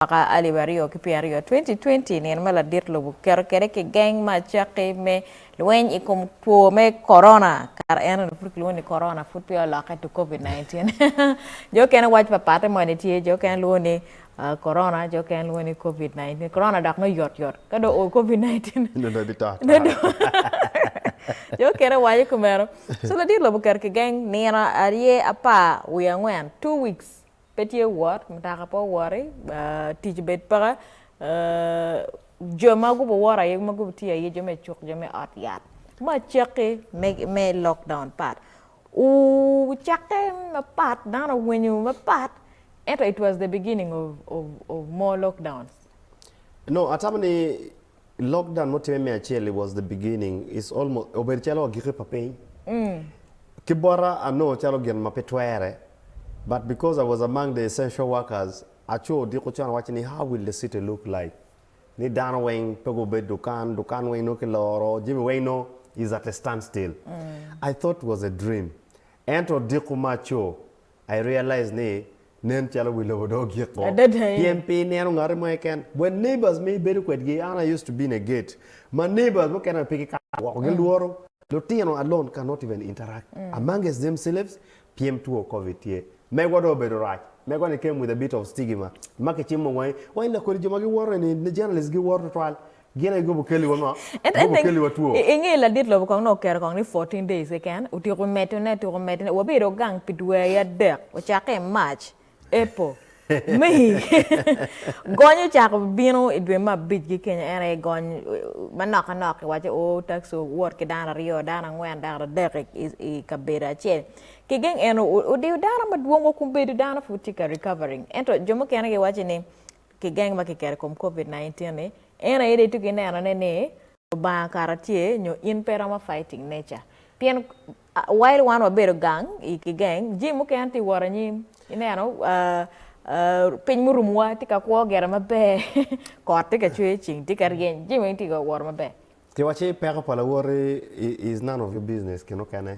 mwaka alip aryo ki pyeraryo, 2020, nino ma ladit lobo keto kwede kigeng me acakki me lweny i kom two me Corona, kare eno ni pud kilwongo ni Corona pud peya olokke to Covid 19. jo okene waco papatte moni tye, jo okene lwongo ni Corona, jo okene lwongo ni Covid 19. Corona dok nongo yot yot, ka dong oo Covid 19, Nongo dong bito ata. nongo dong jo okene waco kumeno. So ladit lobo oketo kigeng nino arye, apar wiye angwen, two weeks. pe tye wot mutoka pe owoti tic obed peke jo ma gu woto aye ma gu tye aye jo me cuk jo me ot yat me acakki me lok down pat wucakke mapat dano owinyo mapat ento it was the beginning of more lockdown. Lockdown mutimme me acel was the beginning is almost obedo calo agiki pa piny. Ki bota anongo calo gin ma pe twere but because I was among the essential workers aco odiko con awaco ni how will the city look like ni dano weng pe gubed dukan, dukan weng nongo kiloro, jami weng nongo is at a stand still. I thought was a dream ento odiko ma aco I realize ni nen calo wi lobo dong ogik o pien pe ineno ngati mo keken but neighbors ma ibedo kwedgi an I used to be in a gate ma neighbors mukene bene pe gikato woko gilworo lutino alone can not even interact amongst themselves pien two covid tye megwa dong obedo rac megwa ni came with a bit of stigima ma kicimo wangi wangi lakodi jo ma giwoto eni ni journalist giwoto twatwal Gin aye gubo keliwa ma gubo keliwa two. I nge ladit lobo kong nongo oketo kong ni fourteen days keken, otyeko medo ne, otyeko medo ne, wabedo gang pi dweri adek, ocakke i March, April, May, gony ocako bino i dwe me abic gi kenya en aye gony manok anok iwaco oo taxi owot ki dano aryo, dano angwen, dano adek i kabedo acel, ki geng eno odiyo dano madwong wa kun bedo dano pud tye ka recovering ento jo mukene giwaco ni ki geng ma kiketo i kom covid 19 ni en aye dong itye ki neno ne ni lubanga kara tye nyo in pe iromo fighting nature pien while wan wabedo gang ki geng jami mukene tye wot anyim ineno piny murumo wa tye ka kwo gire maber kot tye ka cwer ceng tye ka ryeny jami weng tye ka wot maber. Ki waci peko pa lawoti is none of your business ki mukene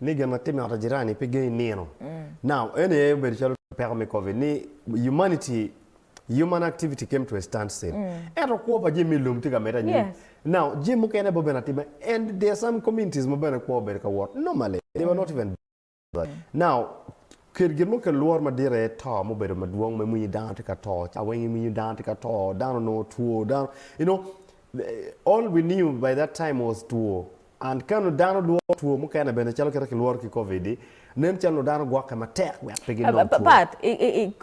Ni gin ma timme i ot pa jirani pe gengi nino. Now, eno aye obedo calo peko me Covid ni humanity, human activity came to a stand still. Ento kwo pa jami me lum tye ka medde anyim. Yes. Now, jami mukene bene obedo atima and there are some communities ma bene kwo obedo ka wot normally. They were not even bothered. Now, Ket gin mo kel lworo madit aye to ma obedo madwong ma iwinyo dano tye ka to ca weng iwinyo dano tye ka to dano onongo two dano you know all we knew by that time was two and ka nongo dano lworo two mukene bene calo kite kilworo ki covid di nen calo dano gwokke matek wek pe ginong two. Pat i i i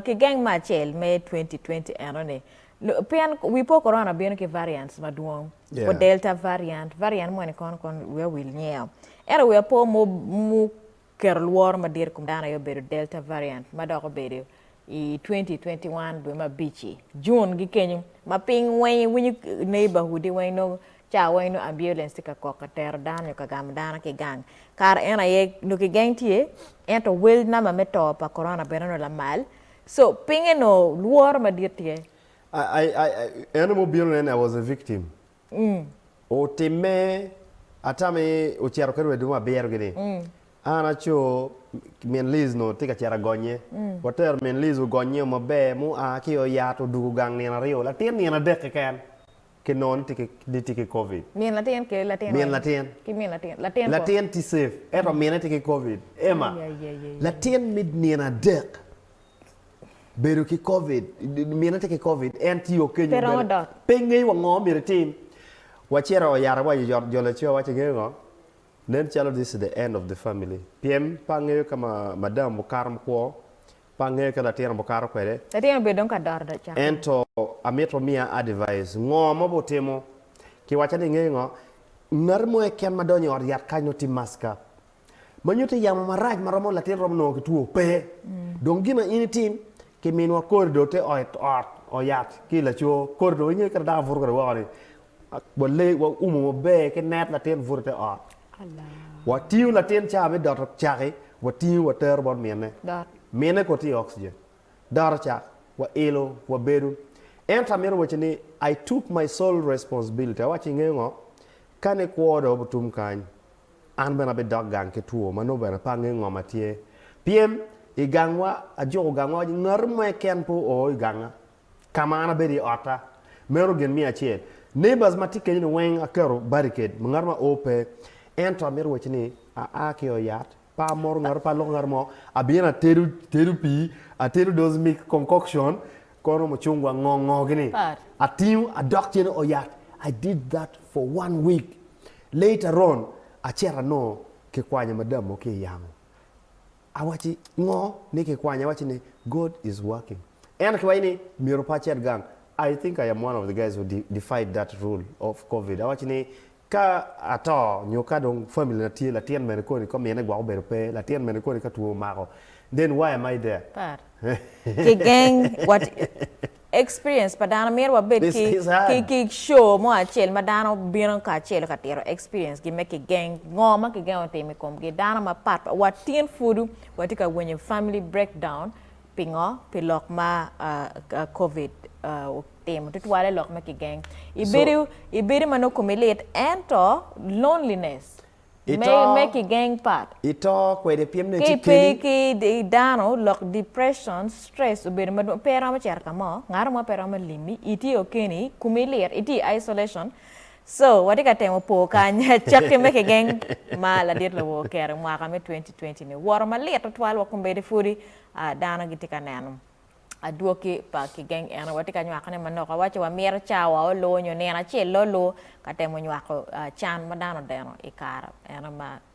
kigeng me acel me twenty twenty eno ni lu pien wi po corona bino ki variants madwong Yeah. wa delta variant variant moni kono kono wiya wil nyeo ento wiya po mo mu keto lworo madit i kom dano aye obedo Delta variant ma dok obedo i twenty twenty one dwe me abic-ci, June, gi kenyo ma piny weng iwinyo neighbourhood-di weng nongo cawa weng nongo ambulance tye ka kok ka tero dano nyo ka gamo dano ki i gang. Kare eno aye nongo kigeng tye ento wel namba me to pa Corona bene onongo lamal so pinge onongo lworo madit tye. I, I, I, en aye ma obino nena, I was a victim. ni. Otimme, ata mi ocito ki rwed mo abiro-gi ni, An aco, min Liz onongo tye ka cito agonnye. Watero min Liz ogonnye-o maber, ma oa ki i ot-yat odwogo gang nino aryo, latin nino adek keken, ki nongo ni tye ki Covid. Min latin ki latin weng? Min latin. Ki min latin. Latin kong? Latin tye cef, ento mine tye ki Covid. Emma, latin me nino adek. bedo ki covid mine tye ki covid en tye okeny pe romo dot pe ngeyo wa ngo myero itim wacito oyara wa yot jo laco waci ngeyo ngo nen calo this is the end of the family pien pe angeyo ka ma madam okato makwo pe angeyo ka latin abo kato kwede latin obedo dong ka dot dot cak ento amito miya advice ngo ma obo timo ki waca ni ngeyo ngo ngati mo eken ma donyo i ot yat kany nongo tye mask up ma nyutte yamo marac ma romo latin romo nongo ki two pe. Dong gin ma in itim, kiminwa kori do te ot ot oyat ki laco kori do inge kit ma dako buto kede woko ni wale wa umo maber ki net latin buto te ot. Wa tingo latin ca me doto caki wa tingo wa tero bot mine. Mine kor tye oxygen. Doto cak wa ilo wa bedo. Ento amito waci ni I took my sole responsibility awaci inge ngo kane kwo do obutum kany. An bene abidok gang ki two ma nongo bene pe angeyo ngo ma tye. Pien i gangwa, ajuko gangwa waci ngati mo keken pe oo i ganga ka ma an abedo i otta. Meno gin miya acel. Neighbors ma tye kenyo-ni weng aketo barricade ma ngat ma oo pe. Ento amito wacci ni aa ki i ot yat, pe amoro ngatu, pe aloko ngatu mo. Abino atedo, tedo pii, atedo those mixed concoction, Kono mucungwa ngo ngo gini atingo adok cene o yat I did that for one week later on aceto anongo ki kwanya madam mo ki yamo awaci ngo ni ki kwanya awaci ni God is working ento ki waci ni myero pe acet gang I think I am one of the guys who defied that rule of covid awaci ni Ka ato nyo ka dong family na tye latin mene koni ka mine gwok obedo pe, latin mene koni ka two omako then why am I there? Par ki geng wat experience pa dano mito wa bed ki ki show mo acel ma dano bino ka acel ka tito experience gi me ki geng ngo ma ki gengo timo ikom gi dano ma pat pat wa tin pud wa tye ka winyo family breakdown Pingo? Pi lok ma Covid otimo tutwale lok ma kigeng. Ibedo i bedo ma nongo komi lit ento loneliness me kigeng pat. Ito kwede pien nongo ci keni. Ka ipe ki dano lok depression, stress obedo madwong pe iromo cito ka mo, ngat mo pe romo limi, itye okeni, komi lit, itye i isolation. So, watye ka temo po kany cakki me kigeng ma ladit lowo oketo i mwaka me 2020-ni. Woro malit tutwal wa kombeddi pwodi dano gitye ka neno adwoki pa kigeng eno. Watye ka nywakone manok, wawaco wa mito cawa olo nyo nino acel lolu ka temo nywako can ma dano odeno i kare eno ma